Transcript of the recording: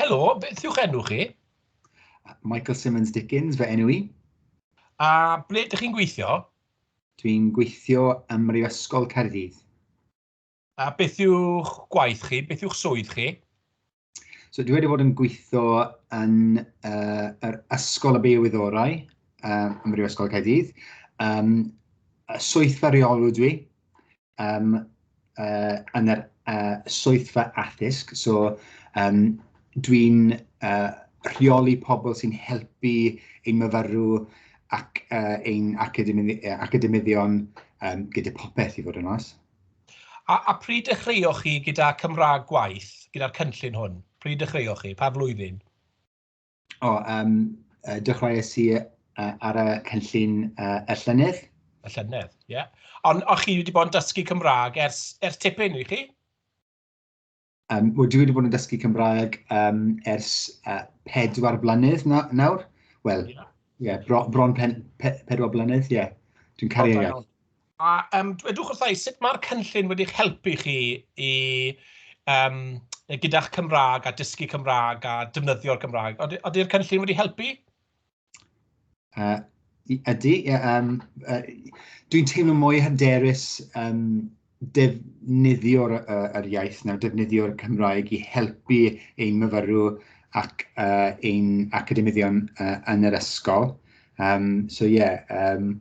Helo, beth yw'ch enw chi? Michael Simmons Dickens, fe enw i. A ble ydych chi'n gweithio? Dwi'n gweithio ym Mhrifysgol Caerdydd. A beth yw'ch gwaith chi? Beth yw'ch swydd chi? So dwi wedi bod yn gweithio yn uh, yr Ysgol y Biowyddorau uh, ym Mhrifysgol Caerdydd. Um, swydd feriolw dwi. um, uh, yn yr uh, swyddfa addysg. So, um, dwi'n uh, rheoli pobl sy'n helpu ein myfyrw ac uh, ein academyddion um, gyda popeth i fod yn os. A, a pryd dechreuoch chi gyda Cymraeg gwaith, gyda'r cynllun hwn? Pryd dechreuoch chi? Pa flwyddyn? O yym yy dechreuais i yy ar y cynllun yy y llynedd. Y llynedd, ie. Ond o' chi wedi bod yn dysgu Cymraeg ers ers tipyn, wych chi? Um, Wel dwi wedi bod yn dysgu Cymraeg um, ers uh, pedwar blynedd na, nawr. Wel, ie, yeah. yeah, bron pen, pe, pedwar blynedd, ie. Yeah. Dwi'n caru ei iaith. A um, dwedwch wrtha i, sut mae'r cynllun wedi'ch helpu chi i, um, gyda'ch Cymraeg a dysgu Cymraeg a defnyddio'r Gymraeg? Ody'r cynllun wedi helpu? Uh, ydy. Um, uh, Dwi'n teimlo mwy hyderus um, defnyddio'r uh, yr iaith nawr, defnyddio'r Cymraeg i helpu ein myfyrw ac uh, ein academyddion uh, yn yr ysgol. Um, so ie, yeah, um,